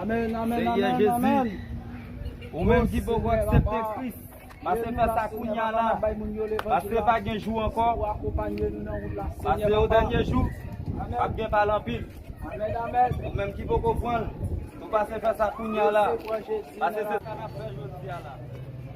Amen, amen, amen, amen. Ou menm ki poko aksepte Kris, pase fè sa kounya la. Pase pa gen jou ankò. Pase yo dènye jou, pap gen pale anpil. Ou menm ki poko pranl, nou pase fè sa kounya la. Pase fè sa nap fè jodia la.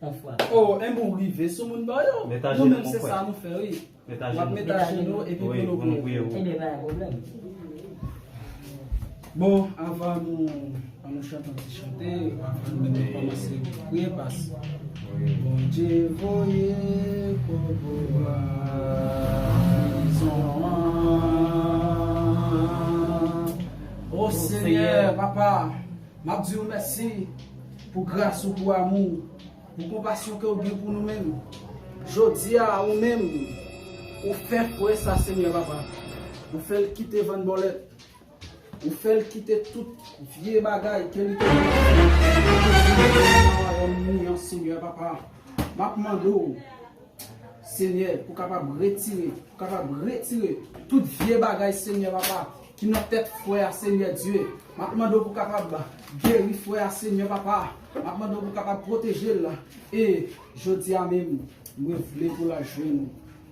On fwa. Oh enben ou rive sou moun ba yo. Met ajenou mon frè. Nou menm se sa nou fè wi. Met ajenou. Wap met ajenou epi pou nou priye pou ou. Enben pa gen pwoblèm. Bon avan nou an nou chante yon ti chante avan nou menm kòmanse priye pas. Bondye voye kobo a prizon an. O senyè papa. Map diw mèsi pou gras ou pou amou ou pou konpasyon kew gen pou nou menm jodia ou menm ou fè kwe sa senyè papa ou fèl kite vann bòlèt ou fèl kite tout vye bagay ke li te gen nan wayòm ou yan senyè papa map mande w Senyè pou kapab retire pou kapab retire tout vye bagay senyè papa ki nan tèt frè a senyè Dye map mande w pou kapab geri frè a senyè papa map mande w pou kapab pwoteje l e jodia menm mwen vle pou la jwenn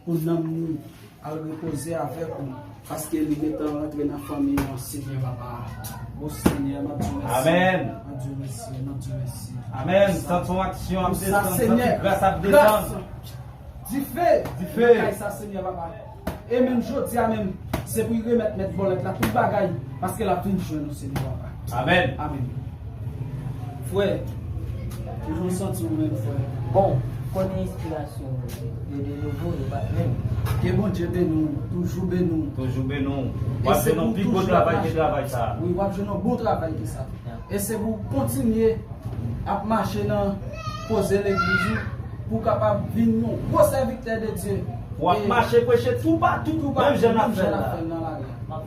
pou nanm li. Al repoze avèk ou paske li gentan rantre nan fanmi an senyè papa o senyè map diw mèsi amen map diw mèsi map diw mèsi amen sant son aksyon ap desann sant son gras ap desann dife dife nan kay sa senyè papa e menm jodi a menm se pou remèt mèt vòlèt la tout bagay paske lap vin jwenn ou senyè papa. Amen. Amen. Frè, toujou santi ou menm frè. Bon, kote enspirasyon ou ye? Yo de nouvo, yo pa menm. Ke Bondye beni w, toujou beni w. Toujou beni w. W ap jwenn yon pi gwo travay ke travay sa. Wi, w ap jwenn yon bon travay ke sa. E se pou w kontinye ap mache nan koze legliz ou pou w kapab vin yon gwo sèvitè de Dye. W ap mache preche toupatou, menm jan n ap fè l la.